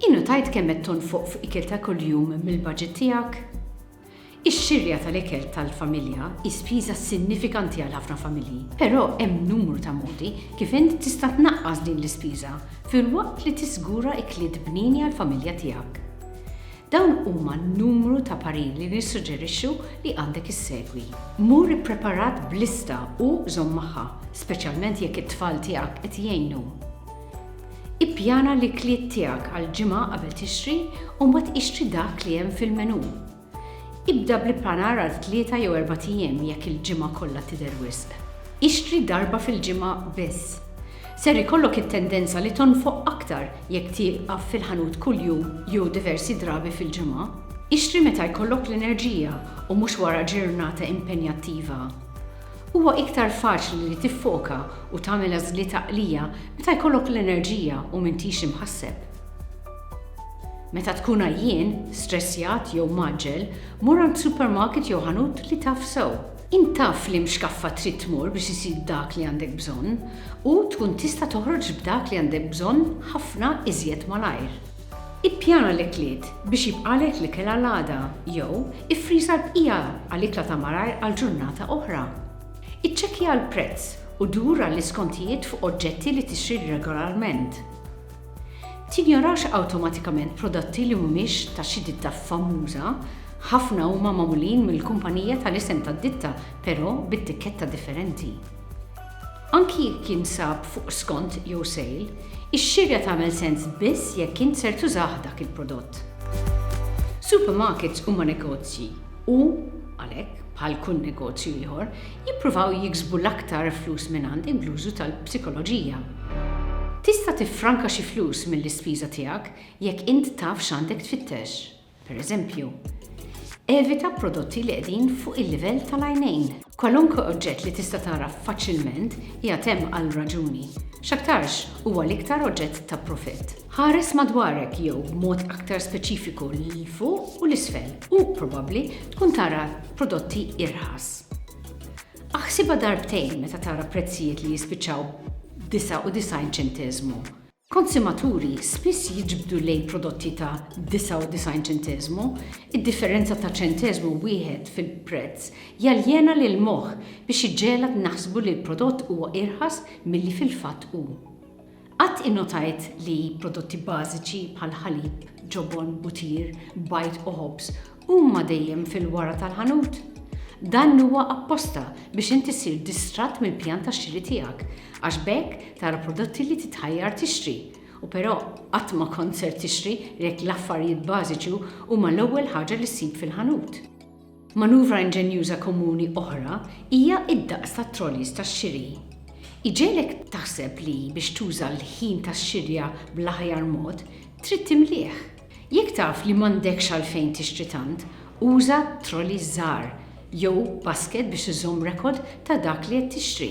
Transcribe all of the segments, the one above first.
Innutajt kemm qed tonfoq fuq ikel ta' kuljum mill-baġit tiegħek? Ix-xirja tal-ikel tal-familja hi spiża sinifikanti għal ħafna familji, però hemm numru ta' modi kif int tista' tnaqqas din l-ispiża filwaqt li tiżgura ikliet bnini għall-familja tiegħek. Dawn huma numru ta' pariri li nissuġġerixxu li għandek issegwi. Mur ippreparat b'lista u żomm magħha, speċjalment jekk it-tfal tiegħek qed jgħinu. Ippjana l-ikliet tiegħek għall-ġimgħa qabel tixtri u mbagħad ixtri dak li hemm fil-menù. Ibda bl-ippanar għal tlieta jew erbat ijiem jekk il-ġimgħa kollha tidher wisq. Ixtri darba fil-ġimgħa biss. Ser ikollok it-tendenza li tonfoq aktar Jekk tieqaf fil-ħanut kuljum jew diversi drabi fil-ġimgħa, ixtri meta jkollok l-enerġija u mhux wara ġirnata impenjattiva. Huwa iktar faċli li tiffoka u tagħmel għażliet għaqlija meta jkollok l-enerġija u m'intix imħasseb. Meta tkun għajjien, stressjat jew mgħaġġel, mur għand supermarket jew ħanut li taf sew. Int taf f'liem xkaffa trid tmur biex issib dak li għandek bżonn, u tkun tista' toħroġ b'dak li għandek bżonn ħafna iżjed malajr. Ippjana l-ikliet biex jibqagħlek l-ikel għal għada, jew iffriża l-bqija għal ikla ta' malajr għal ġurnata oħra. Iċċekkja l-prezz u dur għall-iskontijiet fuq oġġetti li tixtri regolarment. Tinjorax awtomatikament prodotti li mhumiex ta' xi ditta famuża, ħafna huma magħmulin mill-kumpanija tal-isem tad-ditta però bi tikketta differenti. Anki jekk jinsab fuq skont jew sale, ix-xirja tagħmel sens biss jekk int ser tużah dak il-prodott. Supermarkets huma negozji u, għalhekk, bħal kull negozju ieħor, jippruvaw jiksbu l-aktar flus mingħand inklużu tal-psikoloġija. Tista' tiffranka xi flus mill-ispiża tiegħek jekk int taf x'għandek tfittex. Pereżempju, evita prodotti li qegħdin fuq il-livell tal-għajnejn. Kwalunkwe oġġett li tista' tagħraf faċilment qiegħed hemm għal raġuni, x'aktarx huwa l-iktar oġġett ta' profitt. Ħares madwarek jew b'mod aktar speċifiku 'l fuq u 'l isfel u, probabbli, tkun tara prodotti irħas. Aħsibha darbtejn meta tara prezzijiet li jispiċċaw b'99 ċenteżmu. Konsumaturi spiss jiġbdu lejn prodotti ta' 99 ċenteżmu, id-differenza ta' ċenteżmu wieħed fil-prezz jaljena lill-moħħ biex iġegħlha naħsbu li l-prodott huwa irħas milli fil-fatt hu. Qatt innotajt li prodotti bażiċi bħal ħalib, ġobon, butir, bajd u ħobż Huma dejjem fil-wara tal-ħanut. Dan huwa apposta biex inti ssir distratt mill-pjan ta' xiri tiegħek, għax b'hekk tara prodotti li titħajjar tixtri, u però qatt ma kont ser tixtri jekk l-affarijiet bażiċi huma l-ewwel ħaġa li ssib fil-ħanut. Manuvra inġenjuża komuni oħra hija d-daqs tat-trolleys tax-xiri. Iġegħlek taħseb li biex tuża l-ħin tax-xirja bl-aħjar mod, trid timlieh. Jekk taf li m'għandekx għalfejn tixtri tant, uża trolli żgħar jew basket biex iżomm rekord ta' dak li qed tixtri.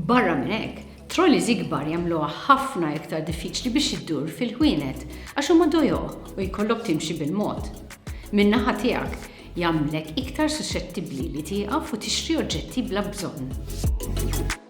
Barra minn hekk, trollies ikbar jagħmluha ħafna iktar diffiċli biex iddur fil-ħwienet għax huma dojoq u jkollok timxi bil-mod. Min-naħa tiegħek, jagħmlek iktar suxxettibbli li tieqaf u tixtri oġġetti bla bżonn.